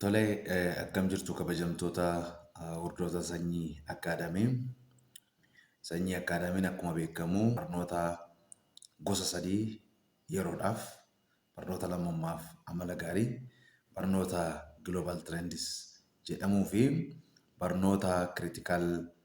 Tole akkam jirtu kabajamtoota hordoftoota sanyii akkaadamii. Sanyii akkaadamiin akkuma beekamu barnoota gosa sadii yeroodhaaf barnoota lammummaaf amala gaarii barnoota global trends jedhamuu fi barnoota critical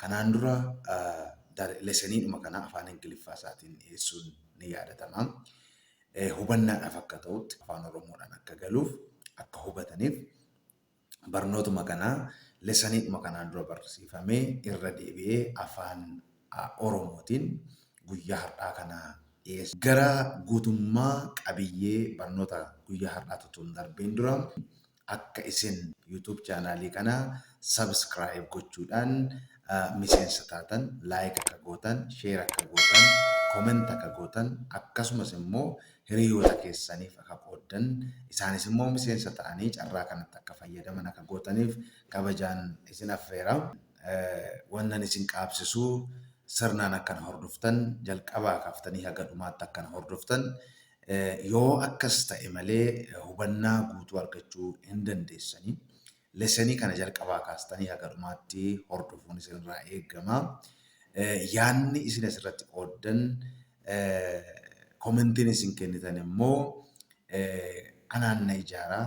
Kanaan dura leseniidhuma kana afaan Ingiliffaa isaatiin dhiyeessuun ni yaadatama. Hubannaadhaaf akka ta'utti afaan Oromoodhaan akka galuuf akka hubataniif barnootuma kana leseniidhuma kanaan dura barsiifame irra deebi'ee afaan Oromootiin guyyaa har'aa kana dhiyeessa. Gara guutummaa qabiyyee barnoota guyyaa har'aatti utuu hin darbiin dura akka isin YouTube channel kana subscribe gochuudhaan miseensa taatan like akka gootan share akka gootan comment akka gootan akkasumas immoo hiriyoota keessaniif akka qooddan isaanis immoo miseensa ta'anii carraa kanatti akka fayyadaman akka gootaniif kabajaan isin affeera. Wannan isin qaabsisu sirnaan akkan hordoftan jalqabaa kaaftanii haga dhumaatti akkan hordoftan Yoo akkas ta'e malee hubannaa guutuu argachuu hin dandeessani. Lesson kana jalqabaa kaastanii haga dhumaatti hordofuun isinirraa eegama. Yaanni isin asirratti qooddan commentiin isin kennitan immoo anaan na ijaara.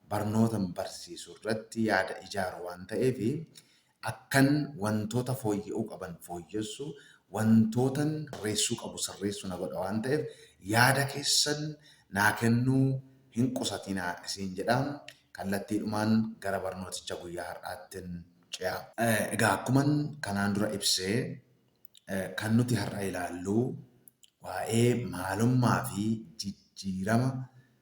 Barnootan barsiisu irratti yaada ijaaru waan ta'eef Akkan wantoota fooyya'uu qaban fooyyessu, wantootan sirreessuu qabu sirreessu na godha waan ta'eef yaada keessan naa kennuu hin qusatinaa isiin jedha. Kallattiidhumaan gara barnooticha guyyaa har'aattin ce'a. Egaa akkuman kanaan dura ibse kan nuti har'a ilaallu waa'ee maalummaa fi jijjiirama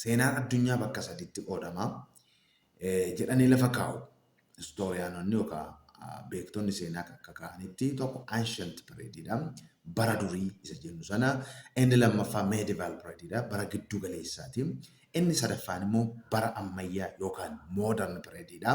seenaan addunyaa bakka sadiitti qoodama jedhanii lafa kaa'u. Istooriyaanonni yookaan beektonni seenaa akka kaa'anitti tokko ancient period dha. Bara durii isa jennu sana. Inni lammaffaa medieval period dha. Bara gidduu galeessaati. Inni sadaffaan immoo bara ammayyaa yookaan modern period dha.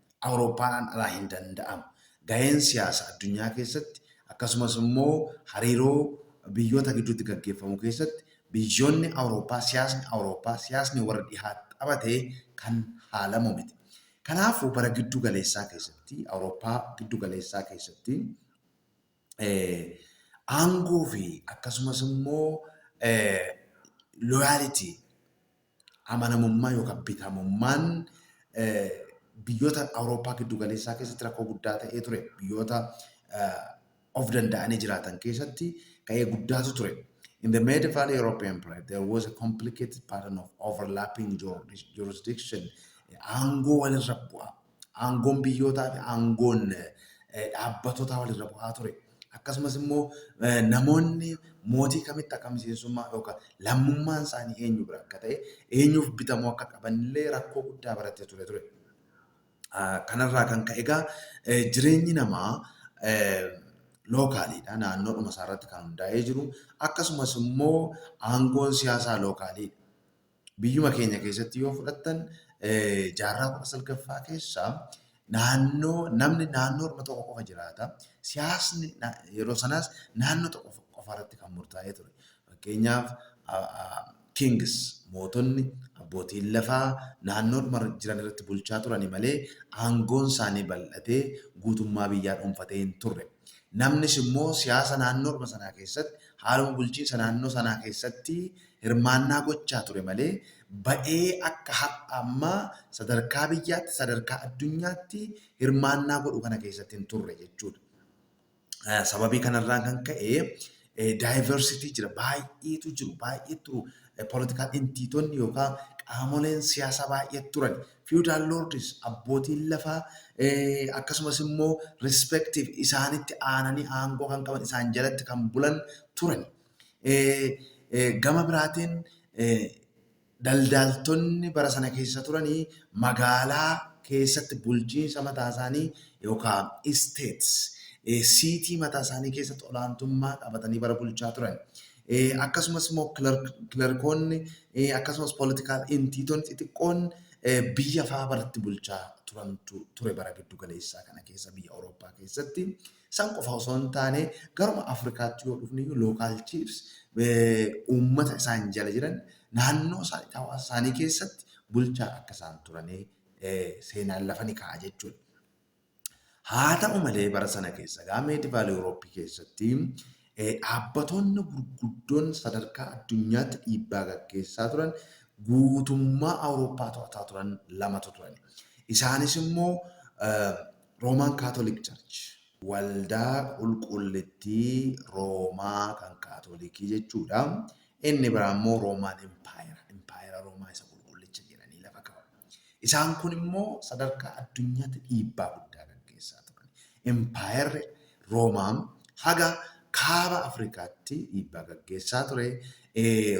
Awurooppaadhaan alaa hin danda'amu. Gaheen siyaasa addunyaa keessatti akkasumas immoo hariiroo biyyoota gidduutti gaggeeffamu keessatti biyyoonni Awurooppaa siyaasni Awurooppaa siyaasni warra dhihaa taphate kan haalamu miti. Kanaafuu bara giddu galeessaa keessatti Awurooppaa giddu galeessaa keessatti aangoo fi akkasumas immoo loyality amanamummaa yookaan bitamummaan biyyoota Awurooppaa giddu galeessaa keessatti rakkoo guddaa ta'ee ture. Biyyoota of danda'anii jiraatan keessatti ka'ee guddaatu ture. In the medieval European period, there was a complicated pattern of overlapping jurisdiction, aangoo walirra bu'aa. aangoon biyyootaa fi aangoon dhaabbatotaa walirra bu'aa ture. Akkasumas immoo namoonni mootii kamitti akka miseensummaa yookaan lammummaan isaanii eenyu bira akka ta'e eenyuuf bitamuu akka qaban illee rakkoo guddaa barattee ture ture. Kanarraa kan ka'e egaa jireenyi namaa lookaaliidha naannoodhuma isaarratti kan hundaa'ee jiru akkasumas immoo aangoon siyaasaa lookaaliidha. Biyyuma keenya keessatti yoo fudhattan jaarraa 19ffaa keessa naannoo namni naannoo orma tokko qofa jiraata. Siyaasni yeroo sanaas naannoo tokko qofa irratti kan murtaa'ee ture. Fakkeenyaaf kings mootonni abbootiin lafaa naannoo orma jiran irratti bulchaa turani malee aangoon isaanii bal'atee guutummaa biyyaa dhuunfatee hin turre. Namnis immoo siyaasa naannoo orma sanaa keessatti haaluma bulchiinsa naannoo sanaa keessatti hirmaannaa gochaa ture malee ba'ee akka har'a ammaa sadarkaa biyyaatti, sadarkaa addunyaatti hirmaannaa godhu kana keessatti hin turre jechuudha. Sababii kanarraan kan ka'e daayivarsitii jira baay'eetu jiru baay'ee turu poolitikaal intiitonni yookaan qaamoleen siyaasaa baay'ee turan fiwudaal loordis abbootiin lafaa akkasumas immoo rispektiif isaanitti aananii aangoo kan qaban isaan jalatti kan bulan turan Gama biraatiin daldaaltonni bara sana keessa turanii magaalaa keessatti bulchiinsa mataa isaanii yookaan isteets siitii mataa isaanii keessatti olaantummaa qabatanii bara bulchaa turan. Akkasumas immoo kilarkoonni akkasumas poolitikaal intiitonni xixiqqoon biyya fa'aa baratti bulchaa turantu ture bara giddu galeessaa kana keessa biyya Awurooppaa keessatti. San qofa osoo hin taane garuma Afrikaatti yoo dhufniyyuu local chiefs uummata isaan jala jiran naannoo isaaniitti hawaasa isaanii keessatti bulchaa akka isaan turanii seenaan lafa ni kaa'a jechuudha. Haa ta'u malee bara sana keessa gaa meedivaal Yurooppii keessatti dhaabbatoonni gurguddoon sadarkaa addunyaatti dhiibbaa gaggeessaa turan guutummaa Awurooppaa to'ataa turan lamatu turan. Isaanis immoo Roman Catholic Church, Waldaa Qulqullittii Roomaa kan Kaatolikii jechuu dha. Inni biraa immoo Roman Empire, Impaayera Roomaa isa Qulqullicha jedhanii lafa ka'u. Isaan kun immoo sadarkaa addunyaatti dhiibbaa guddaa gaggeessaa turan. Impaayerri Roomaa haga Kaaba Afrikaatti dhiibbaa gaggeessaa ture.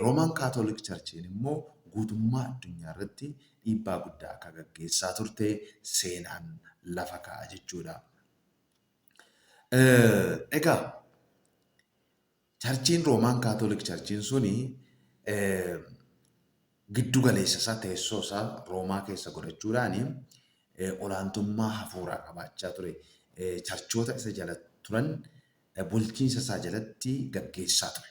Roman Catholic Church'n immoo guutummaa addunyaa irratti dhiibbaa guddaa akka gaggeessaa turte seenaan lafa kaa'a jechuudha. Egaa charchiin Roomaan Kaatoolik charchiin suni giddu galeessa isaa teessoo isaa Roomaa keessa godhachuudhaan olaantummaa hafuuraa qabaachaa ture. Charchoota isa jala turan bulchiinsa isaa jalatti gaggeessaa ture.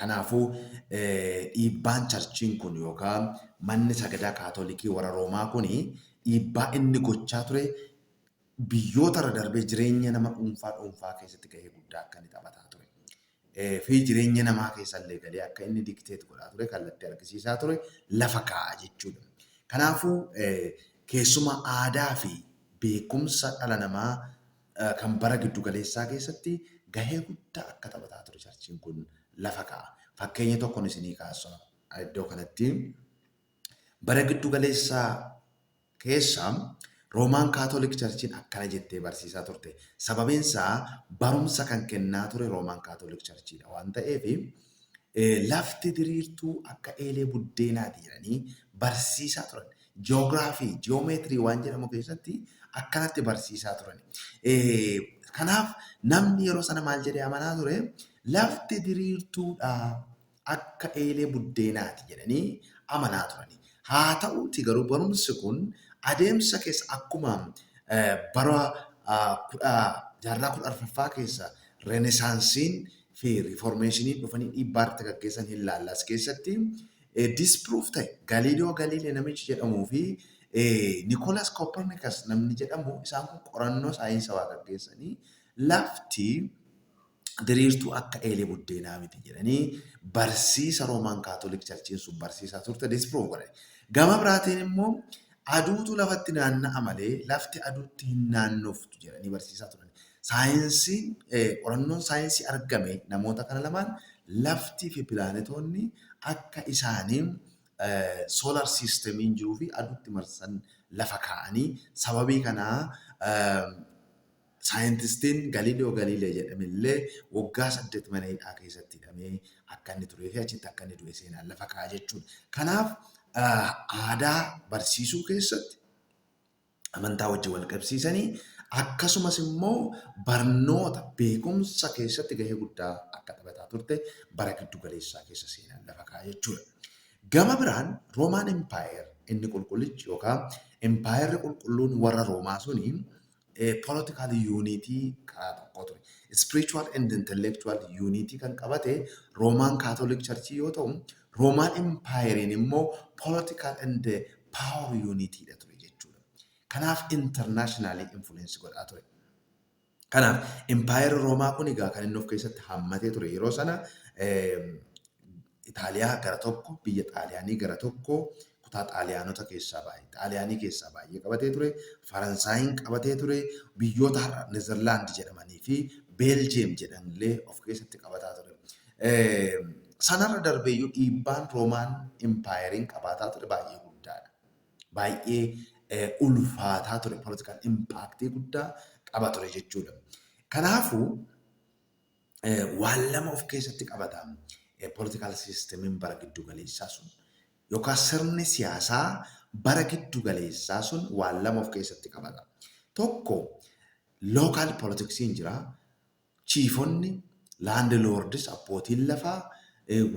Kanaafuu, dhiibbaan charchiin kun yookaan manni sagadaa Kaatolikii warra Roomaa kun dhiibbaa inni gochaa ture biyyoota irra darbee jireenya nama dhuunfaa dhuunfaa keessatti gahee guddaa akka inni taphataa ture fi jireenya namaa keessa illee galee akka inni dikteet godhaa ture kallattii argisiisaa ture lafa kaa'a jechuudha. Kanaafuu, keessumaa aadaa fi beekumsa dhala namaa kan bara giddu galeessaa keessatti gahee guddaa akka taphataa ture charchiin kun lafa kaa'a. Fakkeenya tokkon isinii kaasa iddoo kanatti. Bara giddu galeessaa keessa Roomaan Kaatoolik Charchiin akkana jettee barsiisaa turte. Sababiin isaa barumsa kan kennaa ture Roomaan Kaatoolik Charchiidha waan ta'eef Lafti diriirtuu akka eelee buddeenaati jedhanii barsiisaa turan. Ji'oogiraafii, ji'oomeetirii waan jedhamu keessatti akkanatti barsiisaa turani. Kanaaf namni yeroo sana maal jedhee amanaa ture? Lafti diriirtuudha akka eelee buddeenaati jedhanii amanaa turani. Haa ta'uuti garuu barumsi kun adeemsa keessa akkuma bara kudha jaarraa kudha arfaffaa keessa renesaansiin fi riifoormeeshiniin dhufanii dhiibbaa irratti gaggeessan hin laalla as keessatti. Disproof ta'e Galiiliyoo Galiilee namichi jedhamuu fi Nikoolaas Kooppernikas namni jedhamu isaan kun qorannoo saayinsawaa gaggeessanii lafti diriirtuu akka eelee buddeenaa miti jedhanii barsiisa Roomaan Kaatolik Charchiin sun barsiisaa turte disproof godhan. Gama biraatiin immoo aduutu lafatti naanna'a malee lafti aduutti hin naannoftu jedhanii barsiisaa turan. Saayinsiin, qorannoon saayinsii argame namoota kana lamaan laftii fi pilaanetoonni akka isaanii solar system'n jiruu fi aduutti marsan lafa kaa'anii sababii kanaa saayintistiin Galileo Galilei jedhame illee waggaa saddeet mana hidhaa keessatti hidhamee akka inni turee fi achitti akka inni du'e seenaan lafa kaa'a jechuudha. Kanaaf aadaa barsiisuu keessatti amantaa wajjin wal qabsiisanii akkasumas immoo barnoota beekumsa keessatti gahee guddaa akka taphataa turte bara giddu galeessaa keessa seenaan lafa kaa'a jechuudha. Gama biraan Roomaan Empaayer inni qulqullichi yookaan Empaayerri qulqulluun warra Roomaa suni political unity karaa tokkoo ture. Spiritual and intellectual unity kan qabate Roomaan Catholic Church yoo ta'u Roman empire in immoo political and power unit dha ture jechuudha. Kanaaf internationally influence godhaa ture. Kanaaf empire Roomaa kun egaa kan inni of keessatti hammatee ture yeroo sana Itaaliyaa gara tokko, biyya Xaaliyaanii gara tokko, kutaa Xaaliyaanota keessaa baay'ee, Xaaliyaanii keessaa baay'ee qabatee ture, Faransaayiin qabatee ture, biyyoota har'a Nezerlaand jedhamanii fi Beeljiyeem jedhan illee of keessatti qabataa ture. Sanarra darbee iyyuu dhiibbaan Roomaan Impaayeriin qabaataa ture baay'ee guddaadha. Baay'ee ulfaataa ture, politikaal impaaktii guddaa qaba ture jechuudha. Kanaafuu waan lama of keessatti qabata politikaal siistemiin bara giddu galeessaa sun. yookaan sirni siyaasaa bara giddu galeessaa sun waan lama of keessatti qabata. Tokko local politics in jira, chiifonni, land lords, abbootiin lafaa,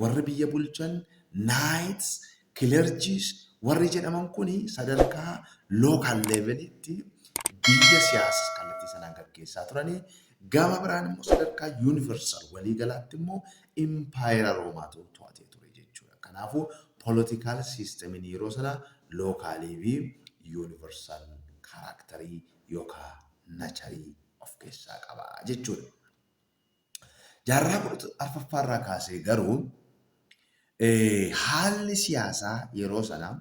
warri biyya bulchan, knights, clergies, warri jedhaman kun sadarkaa local level tti biyya siyaasa kallattii sanaan gaggeessaa turani. Gama biraan immoo sadarkaa universal walii galaatti immoo impaayera Roomaatu to'atee ture jechuudha. Kanaafuu political system in yeroo sanaa local fi universal character yookaa nature of keessaa qaba jechuudha. Jaarraa 14ffaa irraa kaasee garuu haalli siyaasaa yeroo sanaa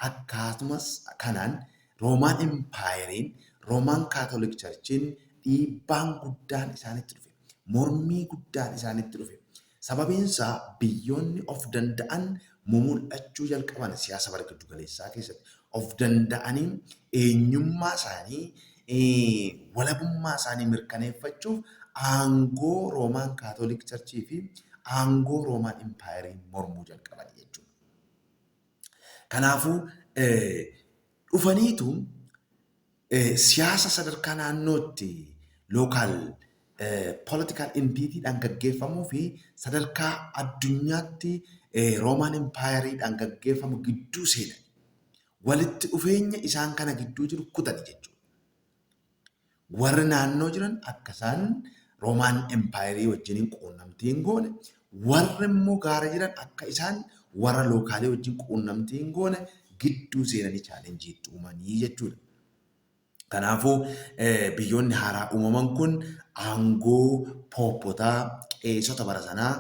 Akkaatuma kanaan Roomaan Empaayeriin, Roomaan Kaatolik Charchiin dhiibbaan guddaan isaanitti dhufe. Mormii guddaan isaanitti dhufe. Sababiin isaa biyyoonni of danda'an mumul'achuu jalqaban siyaasa bara giddu galeessaa keessatti. Of danda'anii eenyummaa isaanii, walabummaa isaanii mirkaneeffachuuf aangoo Roomaan Kaatolik Charchii fi aangoo Roomaan Empaayeriin mormuu jalqaban jechuudha. Kanaafuu dhufaniitu siyaasa sadarkaa naannootti lookaal political entity dhaan gaggeeffamuu fi sadarkaa addunyaatti Roomaan Empaayarii dhaan gaggeeffamu gidduu seenani. Walitti dhufeenya isaan kana gidduu jiru kutani jechuudha. warri naannoo jiran akka isaan Roomaan empaayerii wajjiniin quunnamtii hin goone, warri immoo gaara jiran akka isaan warra lookaalii wajjin quunnamtii hin goone gidduu seenanii chaalenjii itti uumanii jechuudha. Kanaafuu biyyoonni haaraa uumaman kun aangoo pooppotaa qeesota bara sanaa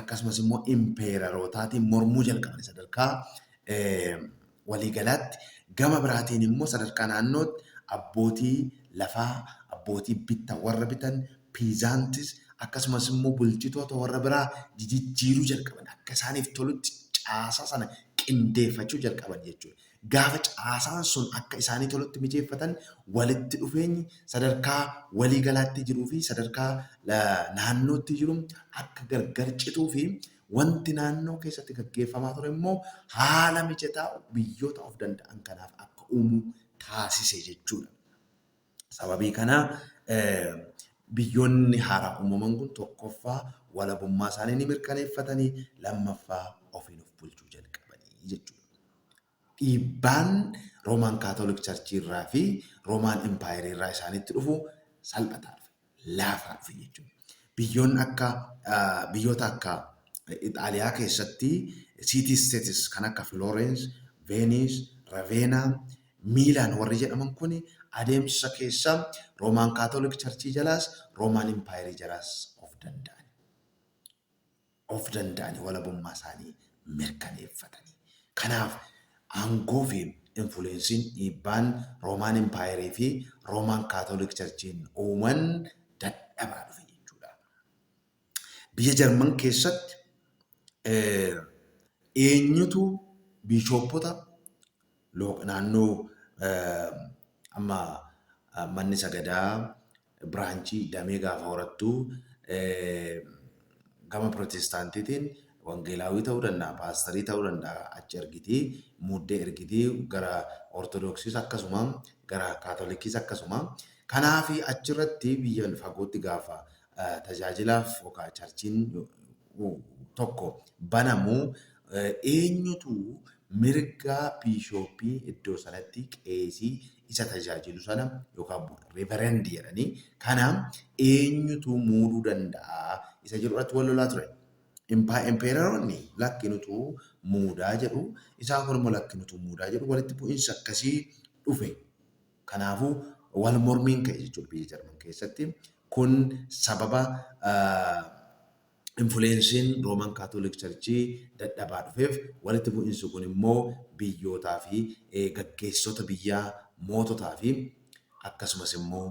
akkasumas immoo impeerarootaatiin mormuu jalqaban sadarkaa waliigalaatti, gama biraatiin immoo sadarkaa naannootti abbootii lafaa, abbootii bitta warra bitan, peasants, akkasumas immoo bulchitoota warra biraa jijijjiiruu jalqaban. Akka isaaniif tolutti caasaa sana qindeeffachuu jalqaban jechuudha. Gaafa caasaan sun akka isaanii tolutti mijeeffatan walitti dhufeenyi sadarkaa waliigalaatti jiruu fi sadarkaa naannootti jiru akka gargar cituu fi Wanti naannoo keessatti gaggeeffamaa ture immoo haala mijataa biyyoota of danda'an kanaaf akka uumu taasise jechuudha. Sababii kanaa biyyoonni haaraa uumaman kun tokkoffaa walabummaa isaanii ni mirkaneeffatanii, lammaffaa ofiin of bulchuu jalqabanii jechuudha. dhiibbaan Roman Catholic Church irraa fi Roman Empire irraa isaanitti dhufu salphataa dhufe, laafaa dhufe jechuudha. Biyyoonni akka biyyoota akka Ixaaliyaa keessatti city states kan akka Florence, Venice, Ravenna, Milan warri jedhaman kun adeemsa keessa Roman Catholic Church jalaas Roman Empire jalaas of danda'an. of danda'anii walabummaa isaanii mirkaneeffatanii. Kanaaf aangoo fi influensiin, dhiibbaan, Roman Empire fi Roman Catholic Church'n uuman dadhabaa dhufe jechuu dha. Biyya Jarman keessatti eenyutu biishooppota naannoo amma manni sagadaa, biraanchii, damee gaafa horattu gama Pirootestaantiitiin Wangeelaawwii ta'uu danda'a, Paastarii ta'uu danda'a achi ergiti, muuddee ergiti, gara Ortodoksiis akkasuma, gara Kaatolikiis akkasuma. Kanaaf achirratti biyya fagootti gaafa tajaajilaaf yookaan charchiin tokko banamu eenyutu mirga biishooppii iddoo sanatti qeesii isa tajaajilu sana yookaan board reverend jedhanii kana eenyutu muuduu danda'a isa jedhu irratti wal lolaa ture. Impaa- Empeeraroonni lakkinutu muudaa jedhu isaan kun immoo lakkinutu muudaa jedhu walitti bu'iinsi akkasii dhufe. Kanaafuu wal mormiin ka'e jechuudha biyya Jarman keessatti. Kun sababa ah, Infuleensiin Rooman Kaatolik Charchii dadhabaa dhufeef, walitti bu'insi kun immoo biyyootaa fi gaggeessitoota biyyaa, moototaa fi akkasumas immoo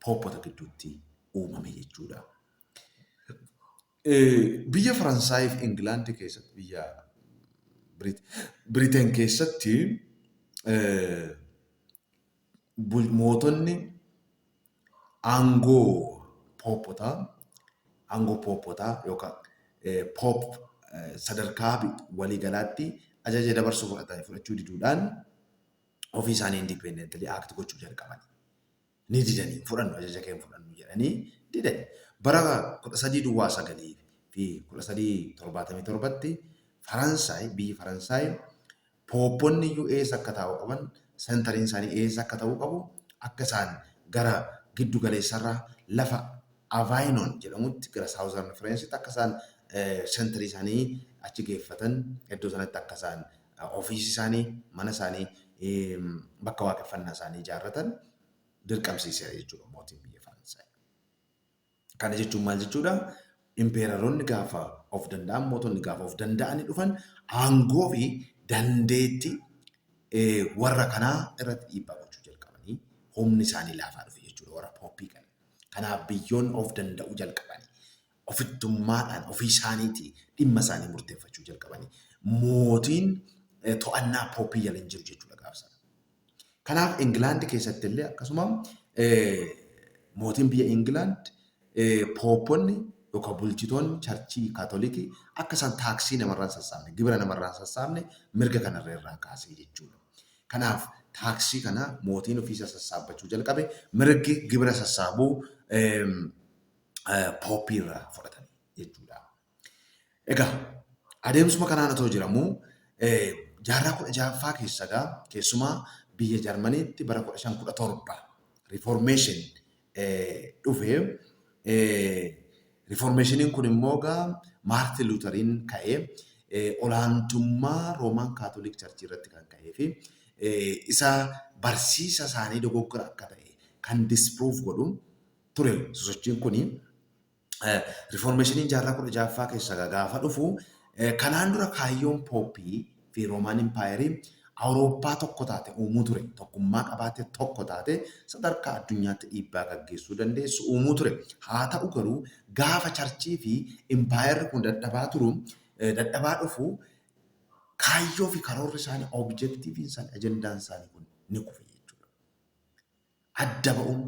pooppota gidduutti uumame jechuu dha. Biyya Faransaayii fi Ingilaandi keessatti, biyya Biriteen keessatti mootonni, Aangoo pooppotaa, aangoo pooppotaa yookaan poop sadarkaa waliigalaatti ajaja dabarsuu fudhatan fudhachuu diduudhaan ofii isaanii independently act gochuu jalqabani. Ni didanii fudhannu ajaja kee hin fudhannu jedhanii didani. Bara 13 duwwaa 9 fi 1377tti Faransaay biyyi Faransaay Poopponni iyyuu eessa akka taa'uu qaban, centering isaanii eessa akka ta'uu qabu, akka isaan gara giddu galeessa irraa lafa Avainon jedhamutti gara southern Frencetti akka isaan centering isaanii achi geeffatan, iddoo sanatti akka isaan ofiisii isaanii, mana isaanii, bakka waaqeffannaa isaanii ijaarratan dirqamsiiseera jechuudha mootiin biyya Faransaay. Kana jechuun maal jechuudha? Impeeraroonni gaafa of danda'an, mootonni gaafa of danda'anii dhufan aangoo fi dandeetti warra kanaa irratti dhiibbaa gochuu jalqabanii humni isaanii laafaa dhufe jechuudha warra pooppii kana. Kanaaf biyyoonni of danda'uu jalqabanii ofittummaadhaan ofii isaaniitii dhimma isaanii murteeffachuu jalqabanii mootiin to'annaa pooppii jala hin jiru jechuudha gaafsa. Kanaaf Ingilaandi keessatti illee akkasuma mootiin biyya Ingilaand poopponni yookaan bulchitoonni charchii kaatolikii akka isaan taaksii namarraan sassaabne gibira namarraan sassaabne mirga kanarra irraa kaasee jechuudha. Kanaaf taaksii kana mootiin ofiisa sassaabbachuu jalqabe mirgi gibira sassaabuu pooppiirraa fudhatame jechuudha. Egaa adeemsuma kanaan otoo jiramu jaarraa kudha ja'affaa keessa egaa keessumaa biyya Jarmaniitti bara kudha shan kudha torba riiformeeshin dhufe. Riiformeeshiniin kun immoo egaa Maartin Luutariin ka'ee olaantummaa Roomaan Kaatolik Charchii irratti kan ka'ee fi isa barsiisa isaanii dogoggora akka ta'e kan disprove godhu ture sosochiin kuni. rifoormeeshiniin jaarraa kudha ja'affaa keessa gaafa dhufu kanaan dura kaayyoon pooppii fi roomaan impaayerii Awurooppaa tokko taate uumuu ture. Tokkummaa qabaate tokko taate sadarkaa addunyaatti dhiibbaa gaggeessuu dandeessu uumuu ture. Haa ta'u garuu gaafa charchii fi impaayerri kun dadhabaa turu dadhabaa dhufu kaayyoo fi karoorri isaanii objektiiviin isaanii ajendaan isaanii kun ni kufe jechuudha. adda ba'uun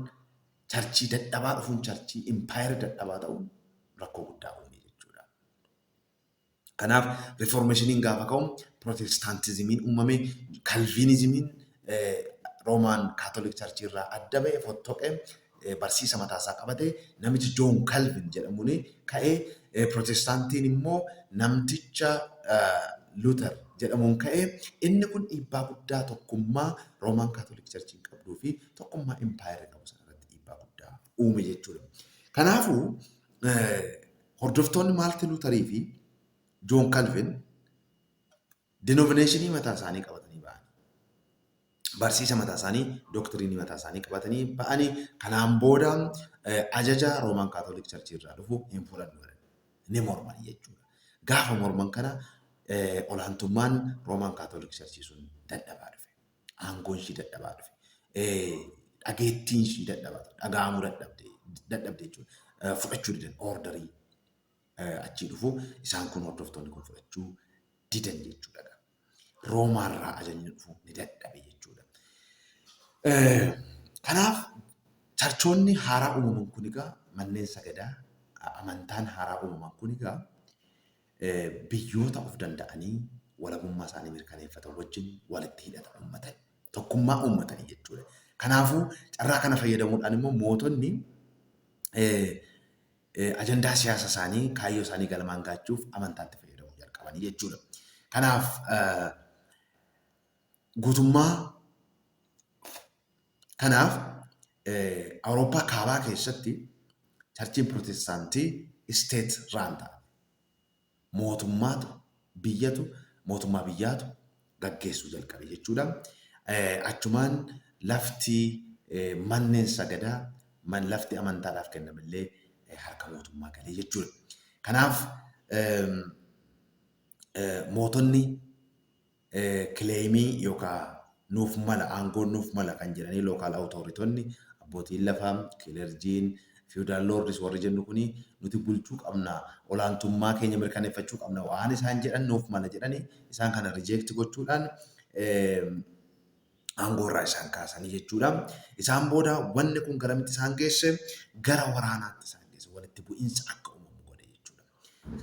charchii dadhabaa dhufuun charchii impaayera dadhabaa ta'uun rakkoo guddaa uume jechuudha. Kanaaf rifoormeeshiniin gaafa ka'u pirootestaantizimiin uumame kalviinizimiin roomaan kaatolik charchii irraa adda ba'e fottoqe barsiisa mataasaa qabate namichi joon kalvin jedhamuun ka'ee Pirootestaantiin immoo namticha Luuter jedhamuun ka'e. Inni kun dhiibbaa guddaa tokkummaa Roomaan Kaatolik Charchiin qabduu fi tokkummaa Impaayerri qabu sana irratti dhiibbaa guddaa uume jechuudha. Kanaafuu hordoftoonni Maalti Luutarii fi Joon Kalvin Denovineeshinii mataa isaanii qabatanii ba'anii, barsiisa mataa isaanii, doktiriinii mataa isaanii qabatanii ba'anii, kanaan booda ajaja Roomaan Kaatoolik Charchii irraa dhufu hin fudhannu jedhan. Ni morman jechuudha. Gaafa morman kana olaantummaan Roomaan Kaatoolik Charchii sun dadhabaa dhufe. Aangoon ishii dadhabaa dhufe. Dhageettiin ishii dadhabaa dhufe. Dhaga'amuu dadhabde jechuudha. Fudhachuu didan ordarii achii dhufu isaan kun hordoftoonni kun fudhachuu didan jechuudha. Roomaarraa ajajni dhufu ni dadhabe jechuudha. Kanaaf charchoonni haaraa uumaman kun egaa manneen sagadaa amantaan haaraa uumaman kun egaa biyyoota of danda'anii walabummaa isaanii mirkaneeffatan wajjin walitti hidhata uummatan tokkummaa uummatanii jechuudha. Kanaafuu carraa kana fayyadamuudhaan immoo mootonni ajandaa siyaasa isaanii, kaayyoo isaanii galmaan gaachuuf amantaatti fayyadamuu jalqabanii jechuudha. Kanaaf guutummaa kanaaf Awurooppaa kaabaa keessatti charchiin pirootestaantii isteet raan ta'a. mootummaatu biyyatu mootummaa biyyaatu gaggeessuu jalqabe jechuudha. Achumaan lafti manneen sagadaa man lafti amantaadhaaf kenname illee harka mootummaa galee jechuudha. Kanaaf mootonni kileeyimii yookaan nuuf mala, aangoon nuuf mala kan jedhanii lookaal awutooritonni, abbootiin lafaa, kilerjiin, fiyudaal loordis warri jennu kuni nuti bulchuu qabna, olaantummaa keenya mirkaneeffachuu qabna waan isaan jedhan nuuf mala jedhanii isaan kana rijeekti gochuudhaan aangoorraa isaan kaasanii jechuudha. Isaan booda wanni kun garamitti isaan geesse gara waraanaatti isaan geesse walitti bu'iinsa akka uumamu godhe jechuudha.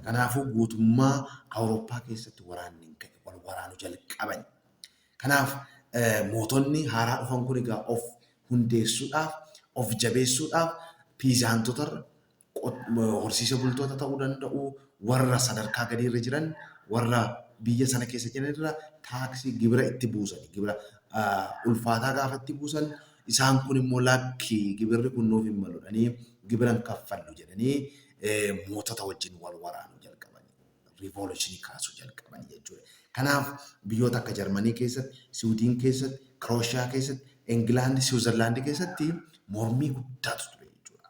Kanaafuu guutummaa Awurooppaa keessatti waraanni in ka'e, wal waraanu jalqabani. Kanaaf mootonni haaraa dhufan kun egaa of hundeessuudhaaf, of jabeessuudhaaf piizaantotarra, horsiise bultoota ta'uu danda'u, warra sadarkaa gadiirra jiran, warra biyya sana keessa jiranirra taaksii, gibira itti buusani. Gibira ulfaataa gaafa itti buusan isaan kun immoo lakki gibirri kun nuuf hin maludhanii gibira hin kaffallu jedhanii mootota wajjin wal waraanuu jalqaban, riivooluushinii kaasuu jalqaban jechuudha. Kanaaf biyyoota akka Jarmanii keessatti, Siwidiin keessatti, Kirooshiyaa keessatti, Ingilaandi, Siwiizerlaandi keessatti mormii guddaatu ture jechuudha.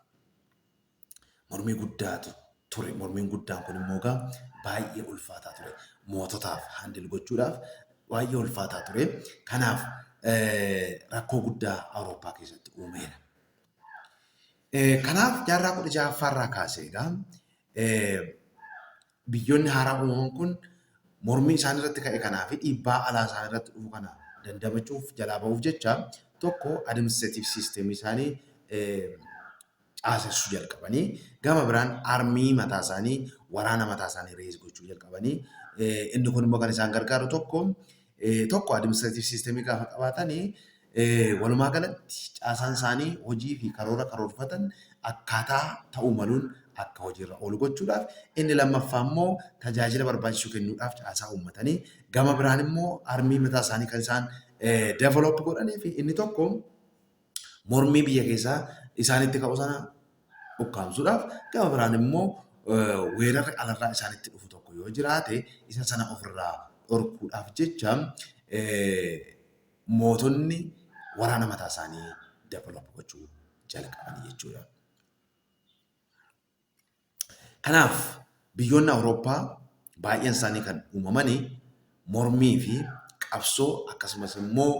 Mormii guddaatu ture. Mormiin guddaan kun immoo egaa baay'ee ulfaataa ture. Moototaaf handil gochuudhaaf baay'ee ulfaataa ture. Kanaaf rakkoo guddaa Awurooppaa keessatti uumeera. Kanaaf jaarraa 16ffaa irraa kaasee egaa biyyoonni haaraa uumaman kun mormii isaan irratti ka'e kanaa fi dhiibbaa alaa isaan irratti dhufu kana dandamachuuf jalaa ba'uuf jecha tokko administreetiif siisteemii isaanii caasessuu jalqabanii gama biraan armii mataa isaanii waraana mataa isaanii rees gochuu jalqabanii inni kun immoo kan isaan gargaaru tokko tokko administrative system gaafa qabaatan walumaa galatti caasaan isaanii hojii fi karoora karoorfatan akkaataa ta'uu maluun akka hojiirra oolu gochuudhaaf inni lammaffaa immoo tajaajila barbaachisu kennuudhaaf caasaa uummatanii gama biraan immoo armii mataa isaanii kan isaan develop godhanii fi inni tokko mormii biyya keessaa isaanitti ka'u sana ukkaamsuudhaaf gama biraan immoo weerarri alarraa isaanitti dhufu tokko yoo jiraate isa sana ofirraa dhorkuudhaaf jecha mootonni waraana mataa isaanii dabalaa gochuu jalqaban jechuudha. Kanaaf biyyoonni Awurooppaa baay'een isaanii kan uumaman mormii fi qabsoo akkasumas immoo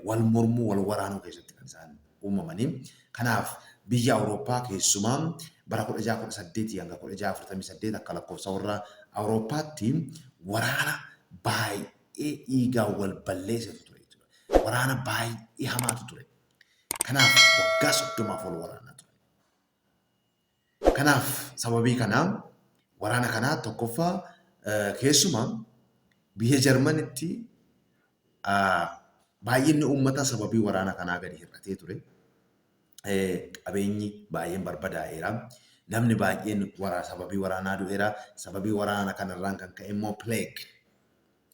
wal mormuu wal waraanuu keessatti kan isaan uumamanii. Kanaaf biyya Awurooppaa keessumaa bara 1618 hanga 1648 akka lakkoofsa warra Awurooppaatti waraana baay'ee dhiigaan wal balleessetu ture jechuudha. Waraana baay'ee hamaatu ture. Kanaaf waggaa 30f wal waraanaa turan. Kanaaf sababii kanaa waraana kanaa tokkoffaa keessumaa biyya Jarmanitti baay'inni uummataa sababii waraana kanaa gadi hir'atee ture. Qabeenyi baay'een barbadaa'eera. Namni baay'een sababii waraanaa du'eera. Sababii waraana kanarraan kan ka'e immoo plague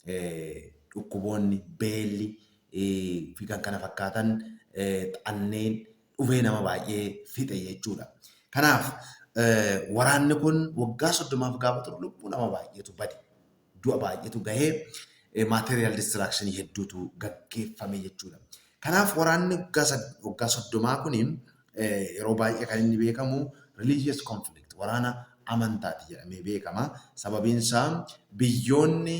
dhukkuboonni, beelli fi kan kana fakkaatan xanneen dhumee nama baay'ee fixe jechuudha. Kanaaf waraanni kun waggaa soddomaaf gaafa turu lubbuu nama baay'eetu bade. Du'a baay'eetu gahee maateriyaal distraakshinii hedduutu gaggeeffame jechuudha. Kanaaf waraanni waggaa soddomaa kun Yeroo baay'ee kan inni beekamu religious conflict, waraana amantaati jedhamee beekama. Sababiin isaa biyyoonni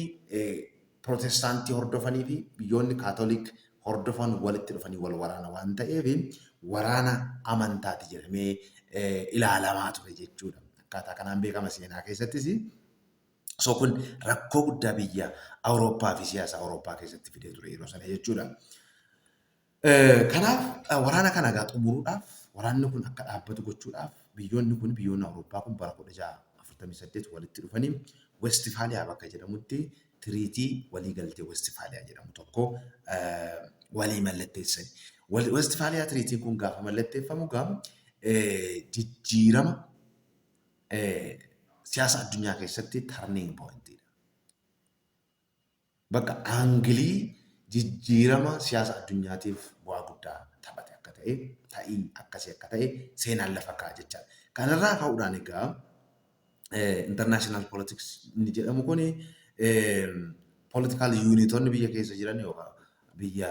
Pirootestaantii hordofanii fi biyyoonni Kaatoliik hordofan walitti dhufanii wal waraana waan ta'eef waraana amantaati jedhamee ilaalamaa ture jechuudha. Akkaataa kanaan beekama seenaa keessattis. So kun rakkoo guddaa biyya Awurooppaa fi siyaasa Awurooppaa keessatti fidee ture yeroo sana jechuudha. Kanaaf waraana kana egaa xumuruudhaaf waraanni kun akka dhaabbatu gochuudhaaf biyyoonni kun biyyoonni Awurooppaa kun bara 1648 walitti dhufanii Westfaaliyaa bakka jedhamutti tiriitii walii galtee Westfaaliyaa jedhamu tokko walii mallatteessan. Westfaaliyaa tiriitiin kun gaafa mallatteeffamu gam jijjiirama siyaasa addunyaa keessatti turning point dha. bakka aangilii jijjiirama siyaasa addunyaatiif bu'aa guddaa taphate akka ta'e, ta'i akkasii akka ta'e seenaan lafa kaa'a jechaadha. Kanarraa ka'uudhaan egaa international politics inni jedhamu kun political unitonni biyya keessa jiran yookaan biyya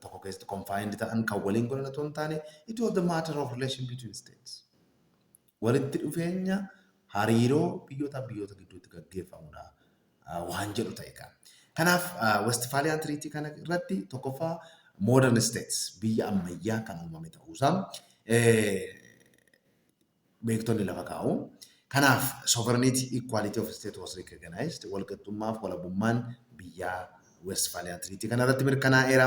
tokko keessatti confined ta'an kan waliin godhan otoo hin taane it was the matter of relation between states. Walitti dhufeenya hariiroo biyyootaaf biyyoota gidduutti gaggeeffamudha waan jedhu ta'e kan. Kanaaf Westphalian Treaty kana irratti tokkoffaa modern states biyya ammayyaa kan uumame ta'uusaa beektonni lafa kaa'u. Kanaaf sovereignty equality of state was recognized walqixxummaaf walabummaan biyyaa Westfaaliyaa Tiriitii kanarratti mirkanaa'eera.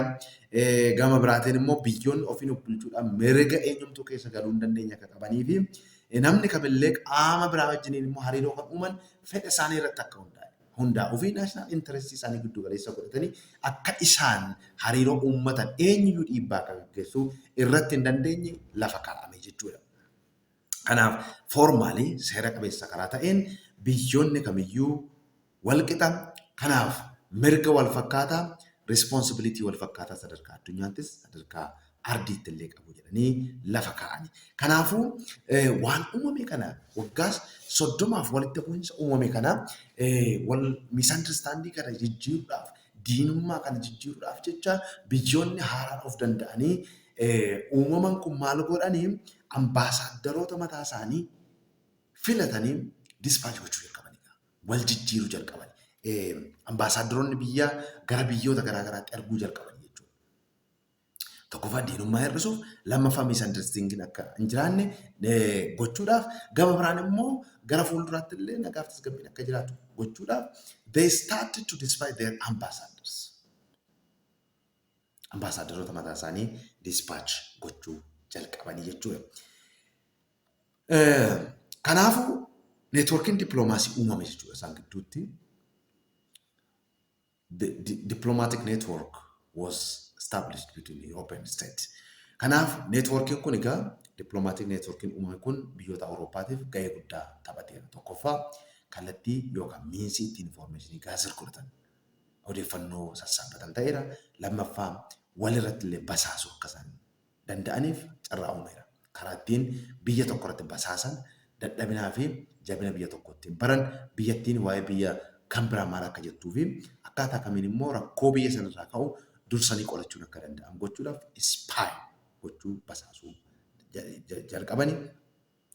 Gama biraatiin immoo biyyoonni ofiin of bulchuudhaan mirga eenyumtuu keessa galuu hin dandeenye akka qabanii fi namni kamillee qaama biraa wajjiniin immoo hariiroo kan uuman fedha isaanii irratti akka hundaa'e hundaa'uu fi naashinaal intarestii isaanii giddu galeessa godhatanii akka isaan hariiroo uummatan eenyuyyuu dhiibbaa akka gaggeessuu irratti hin dandeenye lafa kaa'ame jechuudha. Kanaaf, foormaali, seera qabeessa karaa ta'een biyyoonni kamiyyuu wal qixa, kanaaf mirga wal fakkaataa, responsibility, wal fakkaataa sadarkaa addunyaattis sadarkaa ardiitti illee qabu jedhanii lafa kaa'ani. Kanaafuu, waan uumame kana waggaas soddomaaf walitti bu'insa uumame kana wal misunderstandii kana jijjiiruudhaaf Diinummaa kana jijjiiruudhaaf jecha biyyoonni haaraan of danda'anii uumaman kun maal godhan ambaasaaddaroota mataa isaanii filatanii dispaachi gochuu jalqabanii gaa. Wal jijjiiruu jalqaban. Ambaasaaddaroonni biyyaa gara biyyoota garaa garaatti erguu jalqaban jechuudha. tokkoffaa diinummaa hir'isuuf, lammaffaa miisandarstiingiin akka hin jiraanne gochuudhaaf, gama biraan immoo gara fuulduraatti illee nagaa fi tasgabbiin akka jiraatu gochuudhaaf they started to despise their ambassadors. Ambaasaadaroota mataa isaanii dispatch gochuu jalqabanii jechuudha. Kanaafuu neetwoorkiin dippiloomaasii uumame jechuudha isaan gidduutti. The di- diplomatic network was established between Europe and States. Kanaaf neetwoorkiin kun egaa diplomaatik neetwoorkiin uumame kun biyyoota Awurooppaatiif gahee guddaa taphateera. Tokkoffaa kallattii yookaan miinsii ittiin infoormeeshinii gahaa sirkulatan odeeffannoo sassaabbatan ta'eera. Lammaffaa walirratti illee basaasuu akka isaan danda'aniif carraa uumeera. Karaa ittiin biyya tokko irratti basaasan, dadhabinaa fi jabina biyya tokkoo ittiin baran, biyyattiin waa'ee biyya kan biraa maal akka jettuu fi akkaataa kamiin immoo rakkoo biyya sana irraa ka'u dursanii qolachuun akka danda'an gochuudhaaf spy gochuu, basaasuu, jalqabani.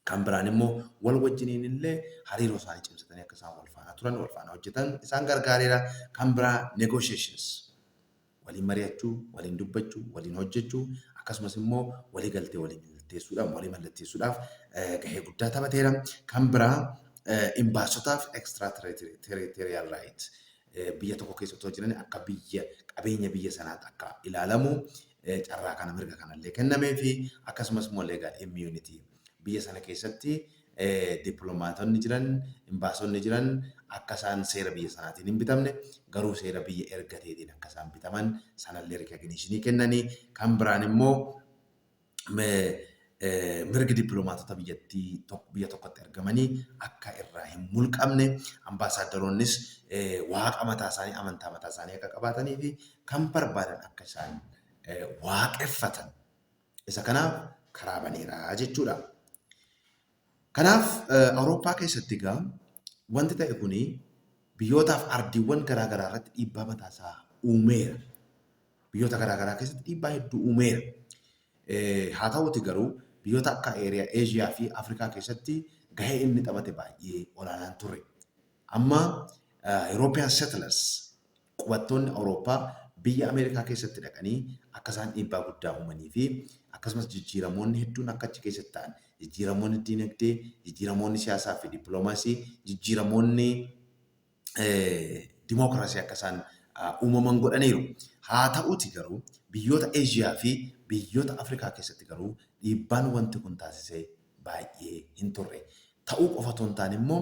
Kan biraan immoo wal wajjiniin illee hariiroo isaanii cimsatanii akka isaan wal faana turan, wal faana hojjetan isaan gargaareera. Kan biraa negotiations, waliin mari'achuu, waliin dubbachuu, waliin hojjechuu akkasumas immoo walii galtee waliin mallatteessuudhaan, walii mallatteessuudhaaf gahee guddaa taphateera. Kan biraa imbaasotaaf extra territorial right, biyya tokko keessa otoo jiranii akka biyya qabeenya biyya sanaatti akka ilaalamu carraa kana mirga kanallee kennamee fi akkasumas immoo leegaal immunity biyya sana keessatti dippiloomaatonni jiran imbaasonni jiran akka isaan seera biyya sanaatiin hin bitamne garuu seera biyya erga ta'eetiin akka isaan bitaman sanallee rikaginiishinii kennanii kan biraan immoo mirgi dippiloomaatota biyyattii biyya tokkotti argamanii akka irraa hin mulqamne ambaasaaddaroonnis waaqa mataa isaanii amantaa mataa isaanii akka qabaatanii fi kan barbaadan akka isaan waaqeffatan isa kanaaf karaa baneera jechuudha. Kanaaf Awurooppaa keessatti egaa wanti ta'e kuni biyyootaaf ardiiwwan garaa garaa irratti dhiibbaa mataa isaa uumeera. Biyyoota garaa garaa keessatti dhiibbaa hedduu uumeera. Haa ta'uuti garuu biyyoota akka eeriyaa Eeshiyaa fi Afrikaa keessatti gahee inni taphate baay'ee olaanaan ture. Amma European settlers Qubattoonni Awurooppaa biyya Ameerikaa keessatti dhaqanii akka isaan dhiibbaa guddaa uumanii fi akkasumas jijjiiramoonni hedduun akka achi keessatti ta'an, jijjiiramoonni diinagdee, jijjiiramoonni siyaasaa fi dippiloomaasii, jijjiiramoonni dimookiraasii akka isaan uumaman godhaniiru. Haa ta'uutii garuu biyyoota Eeshiyaa fi biyyoota Afrikaa keessatti garuu dhiibbaan wanti kun taasise baay'ee hin turre. ta'uu qofa otoo hin taane immoo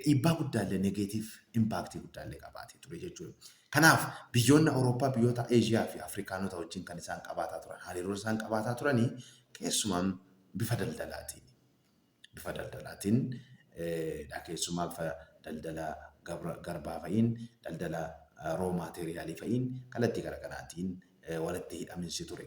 dhiibbaa guddaallee negeetiif impaaktii guddaallee qabaatee ture jechuudha. Kanaaf biyyoonni Awurooppaa biyyoota Eeshiyaa fi Afrikaanota wajjin kan isaan qabaataa turan hariiroo isaan qabaataa turanii keessumaa bifa daldalaatiin bifa daldalaatiin dha keessumaa bifa daldala garbaa fa'iin daldala roo maateeriyaalii fa'iin kallattii garaagaraatiin walitti hidhaminsi ture.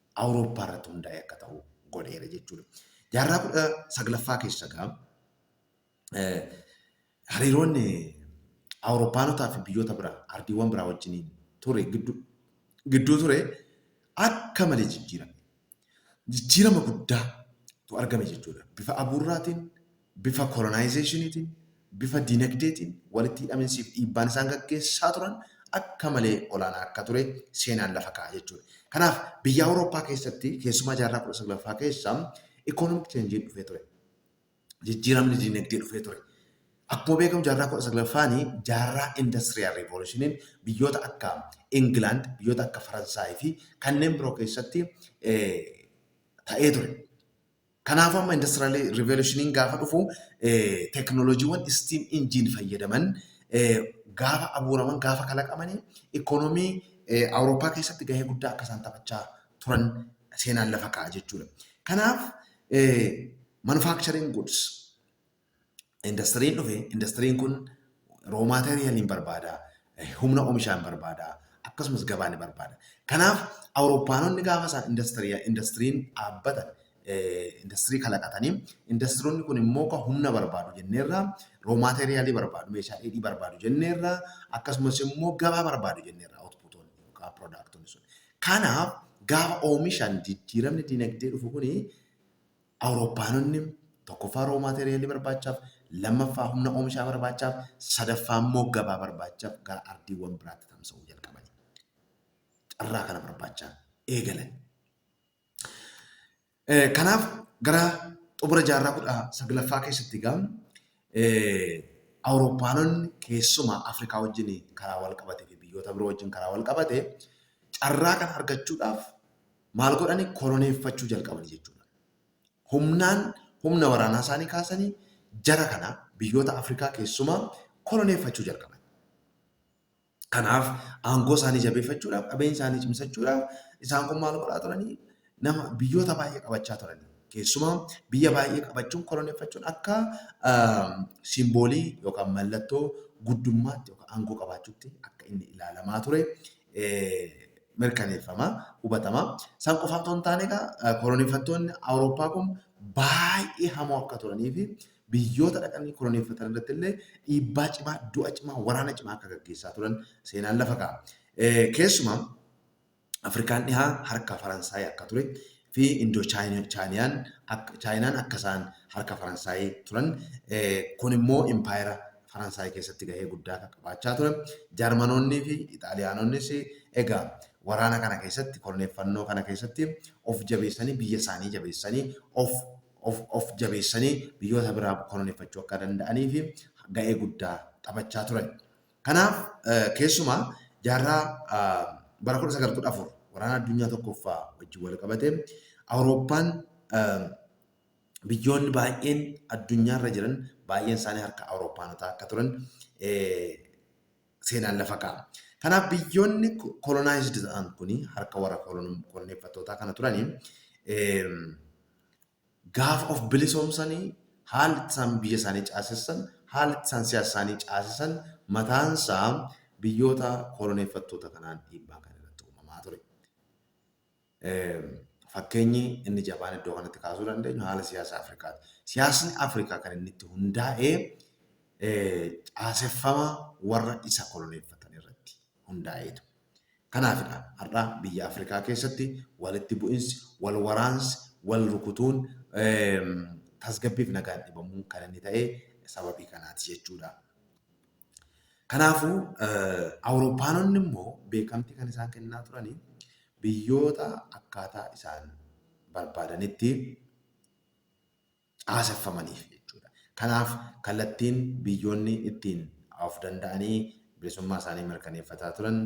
Awurooppaa irratti hundaa'e akka ta'u godheera jechuudha. Jaarraa kudha saglaffaa keessa egaa hariiroon Awurooppaanotaa fi biyyoota biraa ardiiwwan biraa wajjiniin ture gidduu ture akka malee jijjiirame. Jijjiirama guddaa tu argame jechuudha. Bifa abuurraatiin bifa kolonaayizeeshiniitiin, bifa dinagdeetiin walitti hidhaminsi fi dhiibbaan isaan gaggeessaa turan akka malee olaanaa akka ture seenaan lafa kaa'a jechuudha. Kanaaf biyya Awurooppaa keessatti keessumaa jaarraa 19ffaa keessa economic change'n dhufee ture. Jijjiiramni dinagdee dhufee ture. Akkuma beekamu jaarraa 19ffaani jaarraa industrial revolution'n biyyoota akka England, biyyoota akka Faransaay fi kanneen biroo keessatti ta'ee ture. Kanaafuu amma industrial revolution gaafa dhufu teknolojiiwwan steam engine fayyadaman gaafa abuuraman gaafa kalaqamanii ikoonomii Awurooppaa keessatti gahee guddaa akka isaan taphachaa turan seenaan lafa kaa'a jechuudha. Kanaaf manufacturing goods indastiriin dhufe indastiriin kun roo maateeriyalii hin barbaada, humna omishaa hin barbaada, akkasumas gabaa ni barbaada. Kanaaf Awurooppaanonni gaafa isaan indastiriya indastiriin dhaabbatan indastirii kalaqatanii indastironni kun immoo kan humna barbaadu jenneerra roo maateeriyalii barbaadu meeshaa dheedhii barbaadu jenneerra akkasumas immoo gabaa barbaadu jenneerra outputoonni yookaan piroodaaktoonni sun. Kanaaf gaafa oomishan jijjiiramni dinagdee dhufu kuni Awurooppaanonni tokkoffaa raw material barbaachaaf, lammaffaa humna oomishaa barbaachaaf, sadaffaa immoo gabaa barbaachaaf gara ardiiwwan biraatti tamsa'uu jalqabani. Carraa kana barbaachaa eegalan. Kanaaf gara xumura jaarraa kudha saglaffaa keessatti egaa Awurooppaanonni keessumaa Afrikaa wajjin karaa wal qabatee fi biyyoota biroo wajjin karaa wal qabate carraa kana argachuudhaaf maal godhani koloneeffachuu jalqabani jechuudha. Humnaan humna waraanaa isaanii kaasanii jara kana biyyoota Afrikaa keessumaa koloneeffachuu jalqaban. Kanaaf aangoo isaanii jabeeffachuudhaaf qabeenya isaanii cimsachuudhaaf isaan kun maal godhaa turanii nama biyyoota baay'ee qabachaa turanii. Keessumaa biyya baay'ee qabachuun koloneeffachuun akka simboolii yookaan mallattoo guddummaatti yookaan aangoo qabaachuutti akka inni ilaalamaa ture mirkaneeffama, hubatama. San qofa otoo hin taane egaa koloneeffattoonni Awurooppaa kun baay'ee hamoo akka turanii fi biyyoota dhaqanii koloneeffatan irratti illee dhiibbaa cimaa, du'a cimaa, waraana cimaa akka gaggeessaa turan seenaan lafa kaa'a. Keessumaa Afrikaan dhihaa harka Faransaay akka ture fi Indoo-Chaayinaan akka isaan harka Faransaay turan kun immoo impaayera Faransaay keessatti gahee guddaa akka qabaachaa ture. Jarmanoonnii fi Ixaaliyaanonnis egaa waraana kana keessatti korneeffannoo kana keessatti of jabeessanii biyya isaanii jabeessanii of of of jabeessanii biyyoota biraa koloneeffachuu akka danda'anii fi ga'ee guddaa taphachaa turan. Kanaaf keessumaa jaarraa bara 1914 waraana addunyaa tokkoffaa wajjin wal qabatee Awurooppaan biyyoonni baay'een addunyaarra jiran baay'een isaanii harka Awurooppaanotaa akka turan seenaan lafa kaa'a. Kanaaf biyyoonni kolonaayizdii ta'an kun harka warra koloneeffattootaa kana turanii Gaafa of bilisoomsani haalli itti isaan biyya isaanii caasessan, haalli itti isaan siyaasa isaanii caasisan mataan isaa biyyoota koloneeffattoota kanaan dhiibbaan kan irratti uumamaa ture. Fakkeenyi inni jabaan iddoo kanatti kaasuu dandeenyu haala siyaasa Afrikaati. Siyaasni Afrikaa kan inni itti hundaa'e caaseffama warra isa koloneeffatan irratti hundaa'eetu. Kanaafidha har'a biyya Afrikaa keessatti walitti bu'insi, wal waraansi, wal rukutuun tasgabbiif nagaan dhibamuun kan inni ta'e sababii kanaati jechuudha. Kanaafuu Awurooppaanonni immoo beekamtii kan isaan kennaa turani biyyoota akkaataa isaan barbaadanitti caaseffamaniif jechuudha. Kanaaf kallattiin biyyoonni ittiin of danda'anii bilisummaa isaanii mirkaneeffataa turan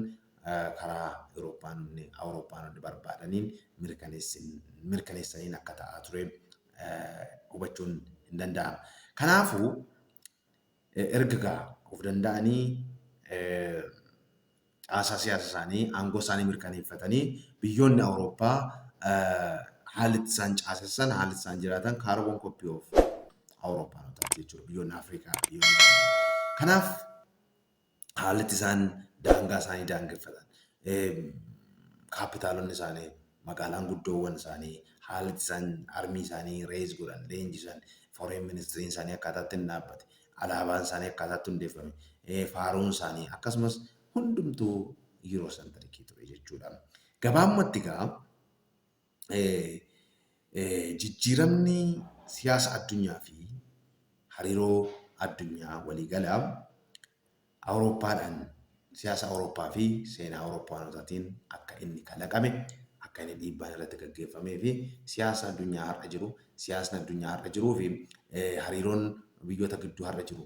karaa Euroopaanonni, Awurooppaanonni barbaadaniin mirkaneessaniin akka ta'aa ture hubachuun hin danda'ama. Kanaafuu erga gaa of danda'anii caasaa siyaasa isaanii aangoo isaanii mirkaneeffatanii biyyoonni Awurooppaa haalli itti isaan caasessan haalli itti isaan jiraatan kaarboon koppii of Awurooppaanotaati jechuudha biyyoonni Afrikaa biyyoonni Kanaaf haalli itti isaan daangaa isaanii daangeffatan, kaappitaalonni isaanii, magaalaan guddoowwan isaanii, haalli itti isaan armii isaanii reeyis godhan, leenjisan, foreen ministiriin isaanii akkaataa itti hin dhaabbate, alaabaan isaanii akkaataa itti hundeeffame, faaruun isaanii akkasumas hundumtuu Yuuroosantarikii ture jechuudha. Gabaabumatti egaa jijjiiramni siyaasa addunyaa fi hariiroo addunyaa waliigalaa Awurooppaadhaan siyaasa Awurooppaa fi seenaa Awurooppaanotaatiin akka inni kalaqame, akka inni dhiibbaan irratti gaggeeffamee fi siyaasa addunyaa har'a jiru, siyaasni addunyaa har'a jiruu fi hariiroon biyyoota gidduu har'a jiru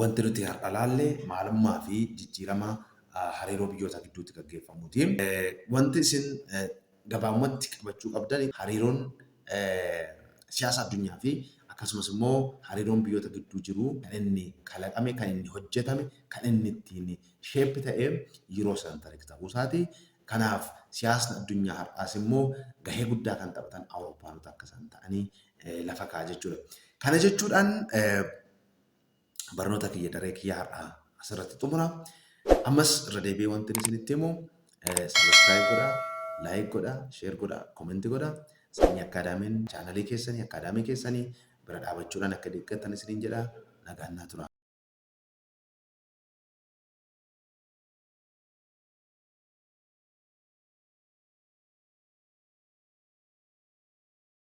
Wanti nuti har'a laalle maalummaa fi jijjiirama hariiroo biyyoota gidduutti gaggeeffamuu ti. Wanti isin gabaabumatti qabachuu qabdan hariiroon siyaasa addunyaa fi akkasumas immoo hariiroon biyyoota gidduu jiru kan inni kalaqame, kan inni hojjetame, kan inni ittiin shape ta'e Eurocentric ta'uu isaa ti. Kanaaf siyaasni addunyaa har'aas immoo gahee guddaa kan taphatan Awurooppaanota akka isaan ta'anii lafa kaa'a jechuu dha. Kana jechuudhaan barnoota kiyya daree kiyya har'aa asirratti xumura. Ammas irra deebi'ee wanti isinitti himu sabiskiraayib godha, laayik godha, sheer godha, koomenti godha. Sanyii akkaadaamiin chaanalii keessanii akkaadaamii keessanii bira dhaabachuudhaan akka deeggartan isiniin jedha. Nagaan naa tura.